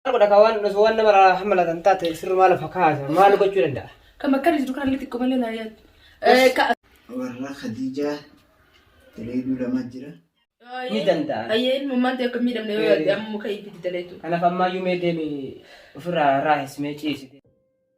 Godha ka waan osoo waan nama irraa hammalatan taate sirrumaa lafa kaasa maal gochuu danda'a? Kan bakka jiru kan illee xiqqoo malee naa yaaddu. Ka warra Khadijaa daleeduu lama jira. Ni danda'a. Ayyee ilmummaan ta'e akka hin miidhamne yoo yaadde amma muka itti daleetu. Kanaaf ammaayyuu mee deemi ofirraa raahis mee ciisi.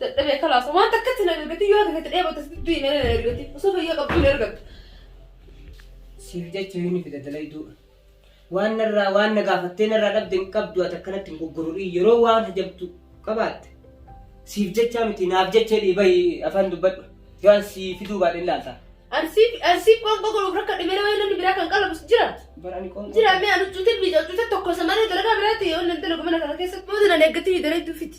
Dadhabee kalaasa waan takkatti na ergatii yoo takkatti dheebotte dudduyi malee na ergatii osoo fayyaa qabduu na ergatta. Siif jecha yoon fida dalayduu. Waan narraa waan na gaafattee narraa dhabde hin qabdu ati akkanatti hin goggorodhii yeroo waan hajabdu qabaatte. Siif jechaa miti naaf jecha jedhii bahi afaan dubbadhu. Yoo an sii fiduu baadhe hin laaltaa. Ansiif ansiif qoonqoo godhuuf rakka dhimee nama namni biraa kan qalabus jira. Bara ani qoonqoo. Jira mee anu cuutin biyya cuutin tokko isa malee dalagaa biraatti yoo nan dalagu mana kana keessatti booda nan eeggatii dalayduu fiti.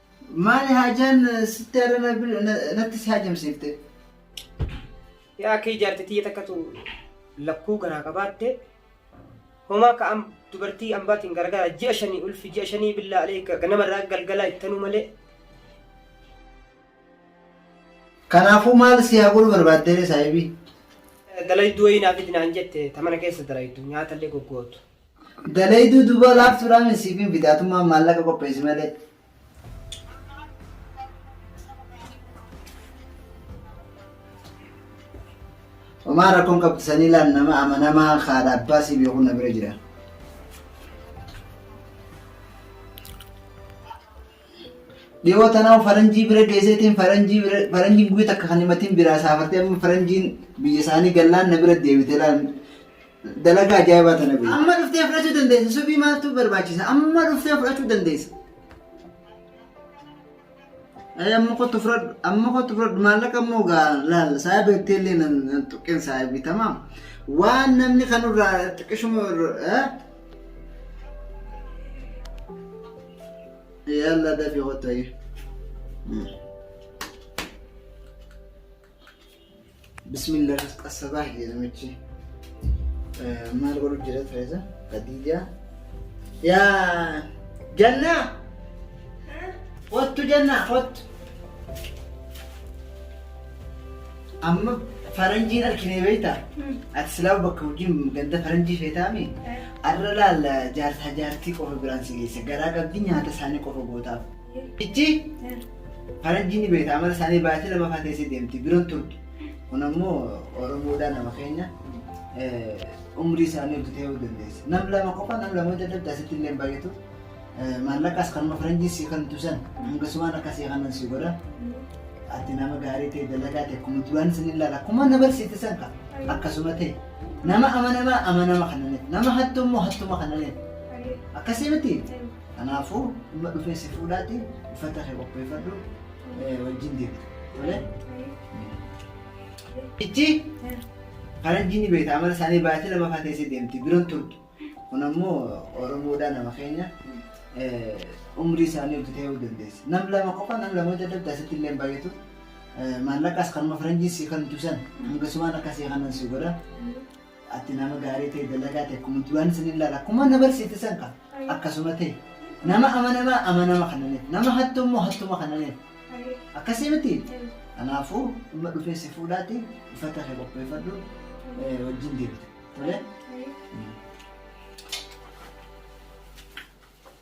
Maali haajaan sitti har'a na bir- na- natti si haajamsiifte? Yaa akka ijaarte tiyya takkatu lakkuu garaa qabaatte homaa ka am dubartii ambaatiin gargaara ji'a shanii ulfi ji'a shanii billaa alee ganama irraa galgalaa ittanuu malee Kanaafuu maal si haa godhu barbaaddeere saahibii? dalayduu wayii naa fidi naan jette ta mana keessa dalaydu nyaatallee goggootu. Dalayduu dubaa laaftuudhaa min siif hin fida atummaan maallaqa qopheessi malee. Homaa rakkoon qabdu sanii laal nama amanamaa haadha abbaa siif yookuun na bira jira. Dhiyoo tanaa faranjii bira geesseetiin faranjii bira faranjiin guyyaa takka kan himatiin biraa saafartee amma faranjiin biyya isaanii gallaan na bira deebite laal Dalagaa ajaa'ibaa tana beeku. Amma dhuftee fudhachuu dandeessa. Subii maaltu barbaachisa? Amma dhuftee fudhachuu dandeessa. Ee amma kottu fudhadhu. Amma kottu fudhadhu. Maallaqa immoo gaa laal. Saayiba ittee illee nan nan tuqqeen saayibi tamaa. Waan namni kanurraa xiqqishuma irra. Yalla dafii kottu ayyee. Bismillah qassabaa hiyya namichi. Maal godhu jira Tereeza? Khadiija. Yaa Jannaa! Kottu Jannaa kottu. Amma faranjiin arginee beektaa? Ati silaa bakka hojiin ganda faranjii feetaami? Arra laalla jaarsaa jaartii qofa biraan si geesse. Garaa qabdi nyaata isaanii qofa gootaaf. Ichi faranjii ni beekta amala isaanii baay'atee lama fa'aa teessee deemti bira hin turtu. Kun ammoo Oromoodhaa nama keenya eh, umrii isaanii oltu ta'uu dandeessa. Nam lama qofa nam lama hojjeta adda asitti illee hin baay'atu. Eh, Maallaqas kanuma faranjii si kan tusan hangasumaan akka si kanan si godha. Ati nama gaarii ta'e dalagaa ta'e akkuma duraan isin ilaala akkuma na barsiifte san ka akkasuma ta'e nama amanamaa amanama kana nama hattuu immoo hattuma kana akkasii miti. Kanaafuu amma dhufee si fuudhaati uffata kee qopheeffadhu eh, wajjin deemta. Tole? Ichi faranjiin ni beekta amala isaanii baay'atee lama fa'aa teessee deemti biroon turtu. Kun ammoo Oromoodhaa nama keenya eh, umrii isaanii oltu ta'uu dandeessi. Nam lama qofa nam lama hojii adda addaa asitti illee hin baay'atu. Eh, Maallaqas kanuma faranjiin si kan tusan hanga sumaan akka si kanan si godha. Ati nama gaarii ta'e dalagaa ta'e akkuma duraan isin ilaala akkuma na barsiifte san kan akkasuma ta'e nama amanamaa amanama kananiif nama hattuu immoo hattuma kananiif akkasii miti kanaafuu dhimma dhufee si fuudhaati uffata kee qopheeffadhu eh, wajjin deebita tole.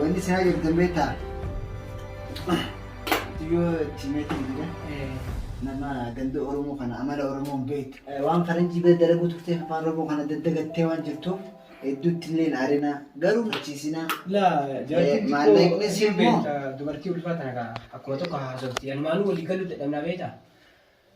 Wanni siraa jirtan beektaa? Yoo itti meetiin jira. Nama ganda Oromoo kana amala Oromoo hin beektu. Waan faranjii bira dalaguu turtee afaan Oromoo kana daddagattee waan jirtuuf hedduutti illee hin aarinaa. Garuu machiisinaa. Laa jaartiin Maallaqni xiqqoo siif moo? beekta dubartii ulfaa tana kaa akkuma tokko haasofti anumaanuu walii galuu dadhabnaa beekta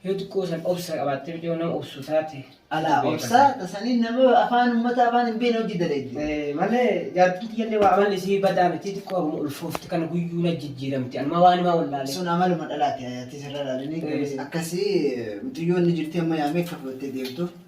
Yoo xiqqoo san obsa qabaattee mucayyoo nama obsu taate. Alaa beekama. obsa tasanii nama afaan ummata afaan hin beekne hojii dalagdi. Eh, Malee jaartiin tiyyallee waa amalli isii badaa miti xiqqoo haguma ulfoofti kana guyyuu na jijjiiramti anuma waan himaa wallaalee. Sun amaluma dhalaati ayaatii sirra laalini Eh. akkasii mucayyoon ni jirti amma yaamee akka fudhattee deemtu.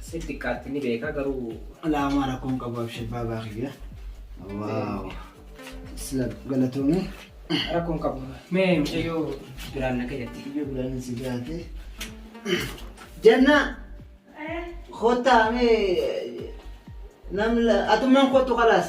Siif xiqqaatti ni beekaa garuu. Alaa homaa rakkoon qabu abshir baabaa kiyya. Waaw. Sila galatoomii. Rakkoon qabu. Mee mucayyoo biraan na gayyatti. Biyya biraan si gaate. Jannaa. Kottaa mee namni atummaan kottu kalaas.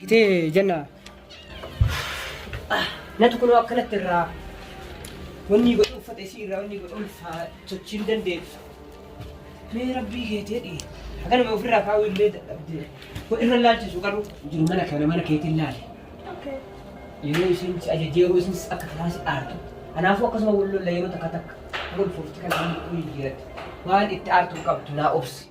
Gitee jenna. Natu kunoo akkanatti irraa wanni godhu uffata isii irraa wanni godhu ulfaa sochii hin dandeessu. Mee rabbii keetii dhii. Akkanuma ofirraa kaa'uu illee dadhabdee. Kun irra laalchisu garuu jiru mana kana mana keetiin laale. Yeroo isin si ajajee yeroo isin akka kanaa si aartu. Kanaafuu akkasuma wal lolla yeroo takka takka wal fuufti kan waan godhu hin jiratti. Waan itti aartu hin qabdu naa obsi.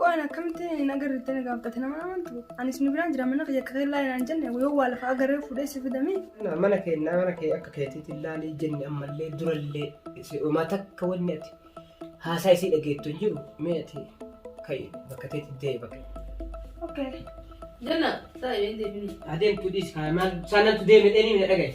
Qo'aan akkamitti naga irratti na gaabbate nama amantu anis nu biraan jira mana kiyya akka kee laalin aan jenne yoo waa lafa agarree fuudhee si fidame mana kee mana kee akka keetiitti laalii jenne ammallee durallee si'uma takka wanni ati haasaa isii dhageettu hin jiru mee ati ka'i bakka teetti deebi bakka. okay. Jenna, saa yoo hin deebinii. Adeemtu dhiis kaa maal saanatu deeme dheerii na dhagaye.